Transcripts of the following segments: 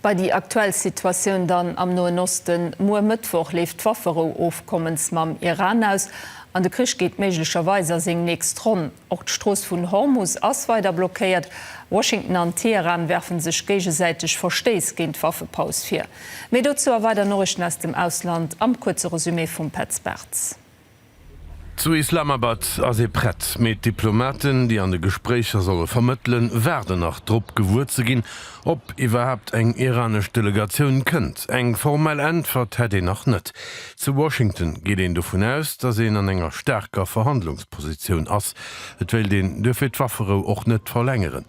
Wei déi aktuell Situatioun dann am Noen Osten, Muer Mëttwoch leeft d'Wafferou Ofkommens mam Iran aus an de Krich geet méiglecherweis a seng nächst Ronn. Och d'Strooss vun Hormus ass weider blockéiert. Washington an Teheran werfen sech géigesäiteg Verstéiss géint d'Waffepaus vir. Méi dozou a weider Noriichten aus dem Ausland am kuerze Resumé vum Petz Bartz. Zu Islamabad ass ee prett, mee d'Diplomaten, déi an de Gespréicher solle vermëttelen, waarden nach drop, gewuer ze ginn, ob iwwerhaapt eng iranesch Delegatioun kënnt. Eng formell Äntwert hätt een nach net. Zu Washington geet een dovun aus, datt een an enger staarker Verhandlungspositioun ass. Et wéilt een duerfir d'Wafferou och net verlängeren.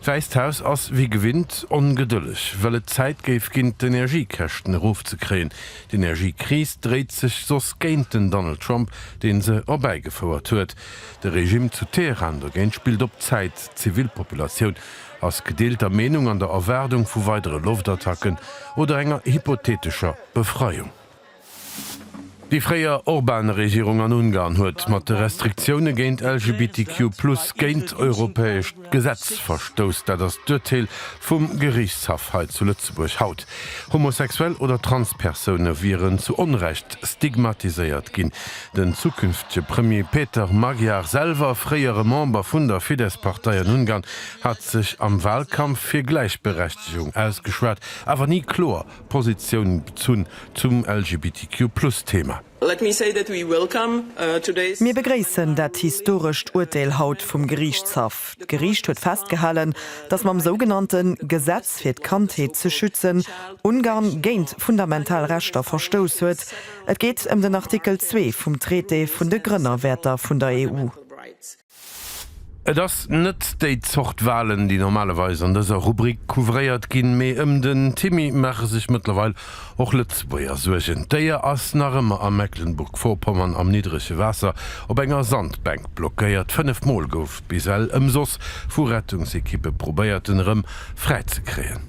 D'Wäisst Haus ass wéi gewinnt ongedëlleg, well et Zäit géif ginn, d'Energiekäschten erofzekréien. D'Energiekris dréit sech soss géint den Donald Trump, dee se erbäigefouert huet. De Regimm zu Teheran dogéint spillt op Zäit. D'Zivilpopulatioun ass gedeelter Meenung an der Erwaardung vu weidere Loftattacken oder enger hypotheetescher Befreiung. Déi fréier Orban-Regierung an Ungarn huet mat de Restriktioune géint LGBTQ-Plus, géint europäesch. Gesetz verstousst, dat ass d'Urteel vum Geriichtshaff hei zu Lëtzebuerg haut. Homosexuell oder Transpersoune wieren zu Onrecht stigmatiséiert ginn. Den zukünftege Premier Peter Magyar, selwer fréiere Member vun der Fidesz-Partei an Ungarn, hat sech am Walkampf fir Gläichberechtegung ausgeschwat, awer ni kloer Positioun bezunn zum LGBTQ-Plus-Thema. Let me say that we welcome today's. Mir begréissen dat historescht Uerteel haut vum Geriichtshaff. D'Geriicht huet festgehalen, datt mam sougenannte Gesetz fir d'Kandheet ze schützen Ungarn géint fundamental Rechter verstouss huet. Et geet ëm den Artikel zwee vum Traité vun de Grënnerwäerter vun der EU. Et ass net déi Zort Walen, déi normalerweis an dëser Rubrik couvréiert ginn, mee ëm den Timmy maache sech mëttlerweil och Lëtzebuerger Suergen. D'Déier ass nach ëmmer a Mecklenburg-Vorpommern am niddrege Waasser op enger Sandbänk blockéiert. Fënnef Mol gouf bis ell ëmsoss vu Rettungsekippe probéiert, en erëm fräizekréien.